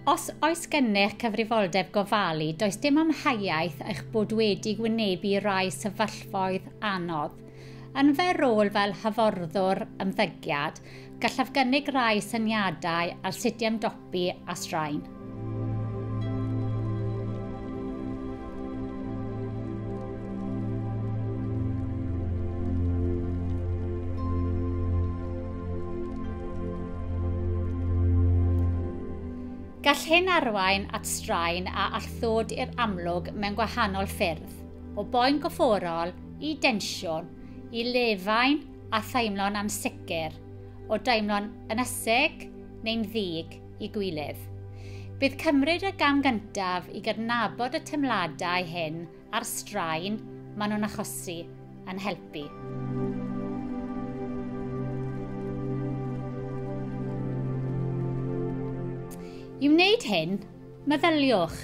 Os oes gennych cyfrifoldeb gofalu, does dim amheuaeth eich bod wedi gwynebu rai sefyllfoedd anodd. Yn fy rôl fel hyfforddwr ymddygiad, gallaf gynnig rai syniadau ar sut i ymdopi bu a straen. Gall hyn arwain at straen a all ddod i'r amlwg mewn gwahanol ffyrdd, o boen gofforol i densiwn, i lefain a theimlo'n ansicr, o daimlo'n ynysig neu'n ddig i gwilydd. Bydd cymryd y gam gyntaf i gydnabod y teimladau hyn a'r straen maen nhw'n achosi yn helpu. I wneud hyn, meddyliwch,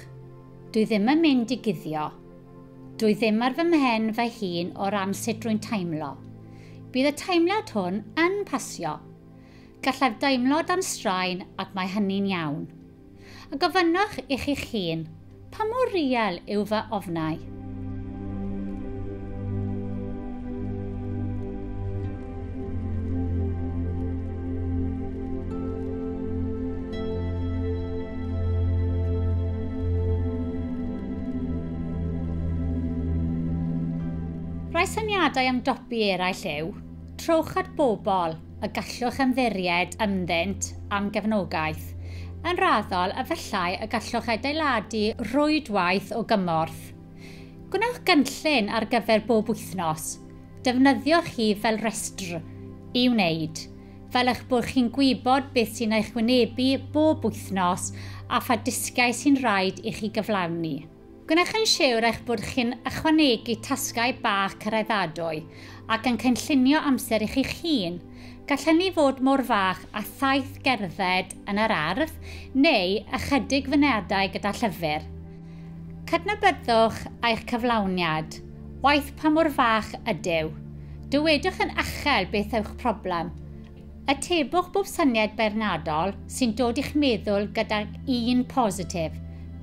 dwi ddim yn mynd i guddio, Dwi ddim ar fy mhen fy hun o ran sut rwy'n teimlo. Bydd y teimlad hwn yn pasio. Gallaf deimlo dan straen ac mae hynny'n iawn. A gofynnwch i chi'ch hun, pa mor riel yw fy ofnau? Rhai syniadau am dopi eraill yw trowch at bobl y gallwch ymddiried ynddynt am gefnogaeth. Yn raddol, efallai y gallwch adeiladu rhwydwaith o gymorth. Gwnewch gynllun ar gyfer bob wythnos. Defnyddiwch hi fel rhestr i wneud fel eich bod chi'n gwybod beth sy'n eich wynebu bob wythnos a pha dysgiau sy'n rhaid i chi gyflawni. Gwnewch yn siwr eich bod chi'n ychwanegu tasgau bach cyraeddadwy ac yn cynllunio amser i chi'ch hun. Gall hynny fod mor fach â thaith gerdded yn yr ardd neu ychydig fynediadau gyda llyfr. Cydnabyddwch eich cyflawniad, waeth pa mor fach ydyw. Dywedwch yn uchel beth yw'ch problem. Atebwch bob syniad beirniadol sy'n dod i'ch meddwl gydag un positif.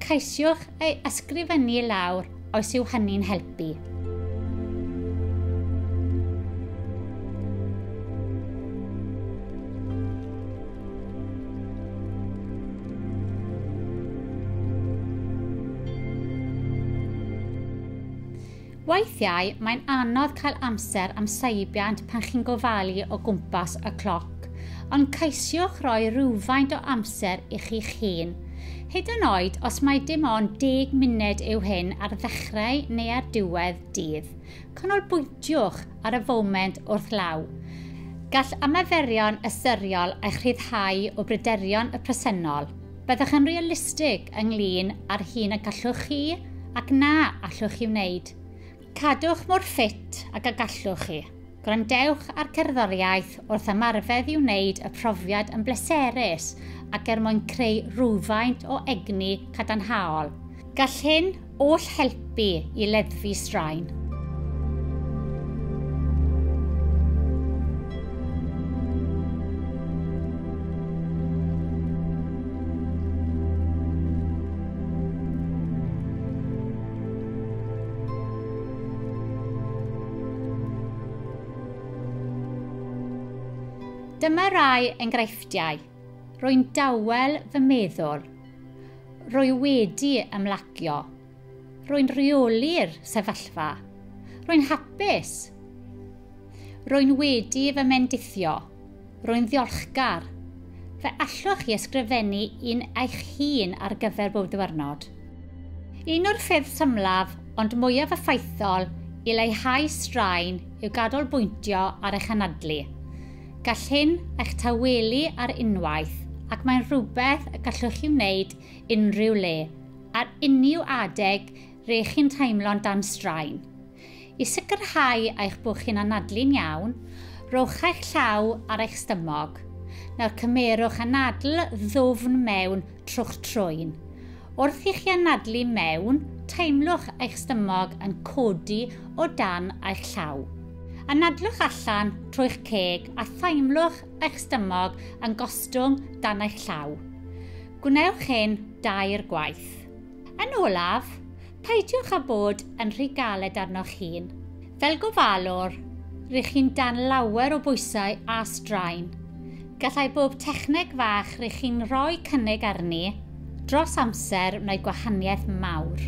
Ceisiwch ei ysgrifennu i lawr os yw hynny'n helpu. Weithiau, mae'n anodd cael amser am seibiant pan chi'n gofalu o gwmpas y cloc, ond ceisiwch roi rhywfaint o amser i chi'ch hun. Hyd yn oed os mae dim ond 10 munud yw hyn ar ddechrau neu ar diwedd dydd, canolbwyntiwch ar y foment wrth law. Gall ymarferion ystyriol eich rhyddhau o bryderon y presennol. Byddwch yn realistig ynglŷn â'r hyn y gallwch chi ac na allwch chi wneud. Cadwch mor ffit ag y gallwch chi. Gwrandewch ar gerddoriaeth wrth ymarfer i wneud y profiad yn bleserus ac er mwyn creu rhywfaint o egni cadarnhaol. Gall hyn All helpu i leddfu straen. Dyma rai enghreifftiau. Rwy'n dawel fy meddwl Rwy wedi ymlacio. Rwy'n rheoli'r sefyllfa. Rwy'n hapus. Rwy'n wedi fy mendithio. Rwy'n ddiolchgar. Fe allwch chi ysgrifennu un eich hun ar gyfer bob diwrnod. Un o'r ffyrdd symlaf ond mwyaf effaithol i leihau straen yw gadolbwyntio ar eich anadlu. Gall hyn eich tawelu ar unwaith ac mae'n rhywbeth y gallwch chi wneud unrhyw le, ar unrhyw adeg re chi'n teimlo'n dan straen. I sicrhau eich bod chi'n anadlu'n iawn, rhowch eich llaw ar eich stumog. Nawr cymerwch anadl ddwfn mewn trwch troen. Wrth i chi anadlu mewn, teimlwch eich stumog yn codi o dan eich llaw. Anadlwch allan trwy'ch ceg a theimlwch eich stumog yn gostwng dan eich llaw. Gwnewch hyn dair gwaith. Yn olaf, peidiwch â bod yn rhy galed arnoch hun. Fel gofalwr, rŷch chi'n dan lawer o bwysau a straen. Gallai bob techneg fach rŷch chi'n rhoi cynnig arni dros amser wneud gwahaniaeth mawr.